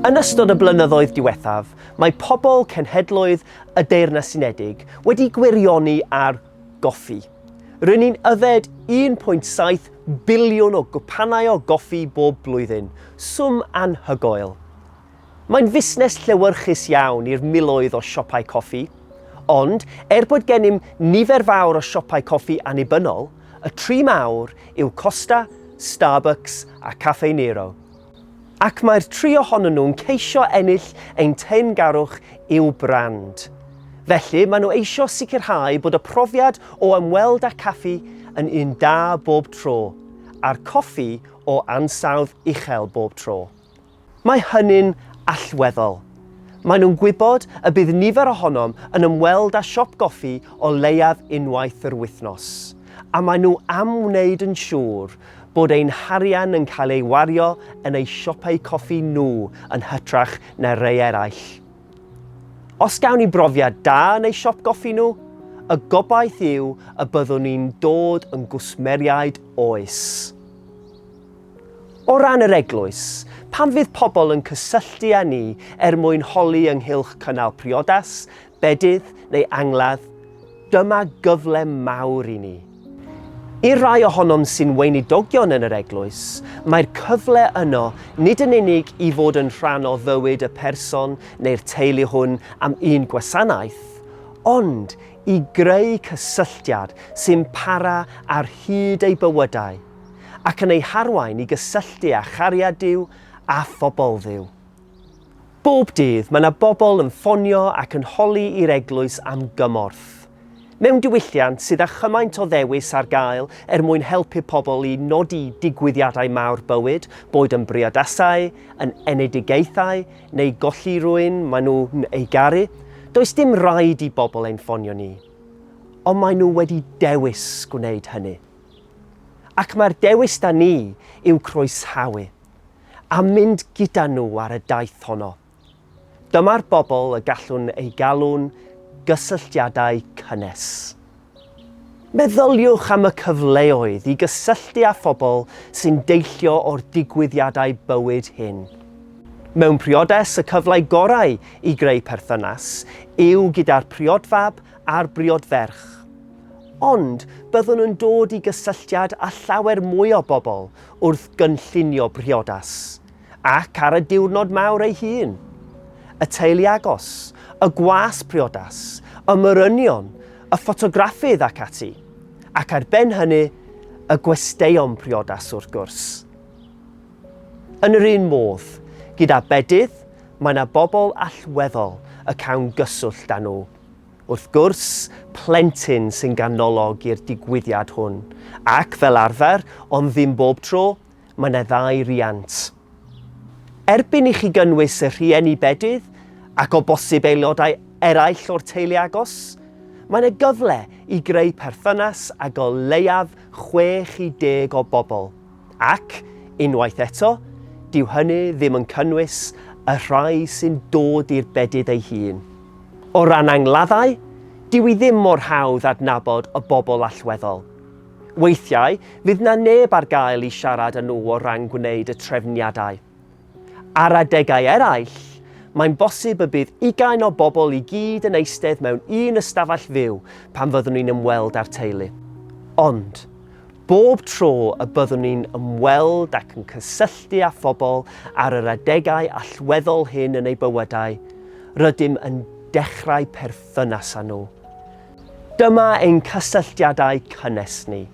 Yn ystod y blynyddoedd diwethaf, mae pobl cenhedloedd y Deyrnas Unedig wedi gwirioni ar goffi. Rydyn ni'n yfed 1.7 biliwn o gwpanau o goffi bob blwyddyn, swm anhygoel. Mae'n fusnes llewyrchus iawn i'r miloedd o siopau coffi, ond er bod gennym nifer fawr o siopau coffi annibynnol, y tri mawr yw Costa, Starbucks a Cafe Nero. Ac mae'r tri ohonyn nhw'n ceisio ennill ein teyrngarwch i'w brand. Felly, maen nhw eisiau sicrhau bod y profiad o ymweld â caffi yn un da bob tro, a'r coffi o ansawdd uchel bob tro. Mae hynny'n allweddol. Maen nhw'n gwybod y bydd nifer ohonom yn ymweld â siop goffi o leiaf unwaith yr wythnos, a maen nhw am wneud yn siŵr bod ein harian yn cael ei wario yn eu siopau coffi nhw yn hytrach na rei eraill. Os gawn ni brofiad da yn eu siop goffi nhw, y gobaith yw y byddwn ni'n dod yn gwsmeriaid oes. O ran yr Eglwys, pam fydd pobl yn cysylltu â ni er mwyn holi ynghylch cynnal priodas, bedydd neu angladd? Dyma gyfle mawr i ni. I'r rhai ohonom sy'n weinidogion yn yr Eglwys, mae'r cyfle yno nid yn unig i fod yn rhan o fywyd y person neu'r teulu hwn am un gwasanaeth, ond i greu cysylltiad sy'n para ar hyd eu bywydau. ac yn eu harwain i gysylltu â chariad Duw a phobl Dduw. Bob dydd mae yna bobl yn ffonio ac yn holi i'r eglwys am gymorth. Mewn diwylliant sydd â chymaint o ddewis ar gael er mwyn helpu pobl i nodi digwyddiadau mawr bywyd, boed yn briodasau, yn enedigaethau neu golli rhywun maen nhw'n ei garu, does dim rhaid i bobl ein ffonio ni. Ond maen nhw wedi dewis gwneud hynny. Ac mae'r dewis 'da ni yw croesawu a mynd gyda nhw ar y daith honno. Dyma'r bobl y gallwn eu galw'n gysylltiadau cynnes. Meddyliwch am y cyfleoedd i gysylltu â phobl sy'n deillio o'r digwyddiadau bywyd hyn. Mewn priodes y cyfle gorau i greu perthynas yw gyda'r priodfab a'r briodferch. Ond byddwn yn dod i gysylltiad â llawer mwy o bobl wrth gynllunio priodas, ac ar y diwrnod mawr ei hun. Y teulu agos, y gwas priodas, y morynion, y ffotograffydd ac ati, ac ar ben hynny, y gwesteion priodas wrth gwrs. Yn yr un modd, gyda bedydd, mae yna bobl allweddol y cawn gyswllt â nhw. Wrth gwrs, plentyn sy'n ganolog i'r digwyddiad hwn, ac fel arfer, ond ddim bob tro, mae 'na ddau riant. Erbyn i chi gynnwys y rhieni bedydd, ac o bosib aelodau eraill o'r teulu agos, mae 'na gyfle i greu perthynas ag o leiaf 60 o bobl. Ac, unwaith eto, dyw hynny ddim yn cynnwys y rhai sy'n dod i'r bedydd ei hun. O ran angladdau, dyw i ddim mor hawdd adnabod y bobl allweddol. Weithiau, fydd 'na neb ar gael i siarad â nhw o ran gwneud y trefniadau. Ar adegau eraill, mae'n bosib y bydd ugain o bobl i gyd yn eistedd mewn un ystafell fyw pan fyddwn ni'n ymweld â'r teulu. Ond, bob tro y byddwn ni'n ymweld ac yn cysylltu â phobl ar yr adegau allweddol hyn yn eu bywydau, rydym yn dechrau perthynas â nhw. Dyma ein cysylltiadau cynnes ni.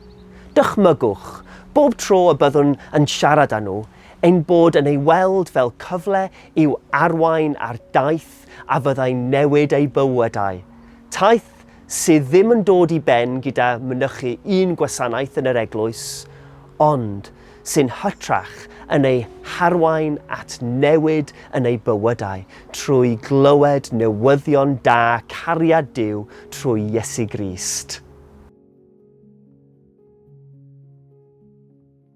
Dychmygwch, bob tro y byddwn yn siarad â nhw, Ein bod yn ei weld fel cyfle i'w arwain ar daith a fyddai'n newid eu bywydau. Taith sydd ddim yn dod i ben gyda mynychu un gwasanaeth yn yr eglwys, ond sy'n hytrach yn eu harwain at newid yn eu bywydau trwy glywed newyddion da cariad Duw trwy Iesu Grist.